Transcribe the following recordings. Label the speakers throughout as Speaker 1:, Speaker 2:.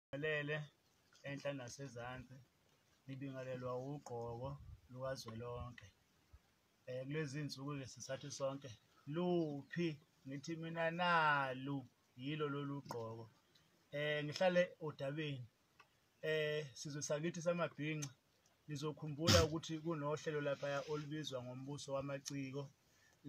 Speaker 1: Ngibingelele enhla nasezansi, ngibingelelwa ugqoko lukazwelonke. Um kulezi nsuku-ke sisathi sonke luphi ngithi mina nalu yilo lolu gqoko um ngihlale odabeni um sizwe sakithi samabhinca nizokhumbula ukuthi kunohlelo laphaya olubizwa ngombuso wamaciko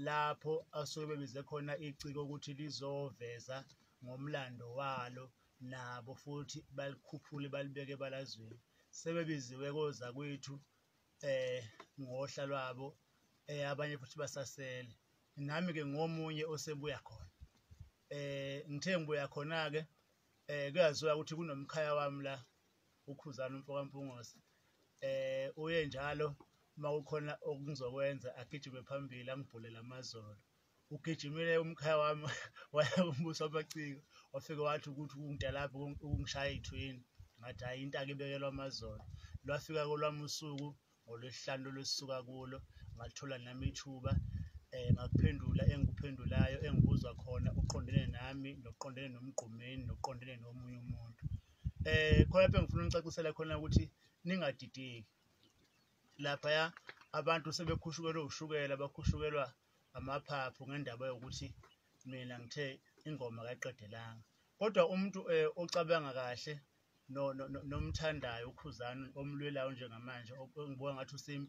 Speaker 1: lapho asuke bebize khona iciko ukuthi lizoveza ngomlando walo nabo futhi balikhuphule balibeke ebalazweni sebebiziwe kozakwethu eh ngohla lwabo eh abanye futhi basasele nami ke ngomunye osebuya khona eh ngithe ngibuya khona ke eh kuyaziwa ukuthi kunomkhaya wami la ukhuzana umfoka mpungose eh uye njalo uma kukhona okungizokwenza agijime phambili angibhulele amazolo ugijimile umkhaya wami waya kumbuso amaciko wafike wathi ukuthi ukungida lapho ukungishaya ithwini ngathi hayi into akibekelwa amazolo lwafika kolwami usuku ngolwesihlanu lolwesuka kulo ngathola nami ithuba um ngakuphendula engikuphendulayo engibuzwa khona uqondene nami nokuqondene nomgqumeni nokuqondene nomunye umuntu um khona lapho engifuna unicacisela khona ukuthi ningadideki laphaya abantu sebekhushukelwe ushukela bakhushukelwa amaphaphu ngendaba yokuthi mina ngithe ingoma kayiqedelanga kodwa umuntu eh, ocabanga kahle nomthandayo ukhuzani omlwelayo njengamanje ongibuka ngathi usempi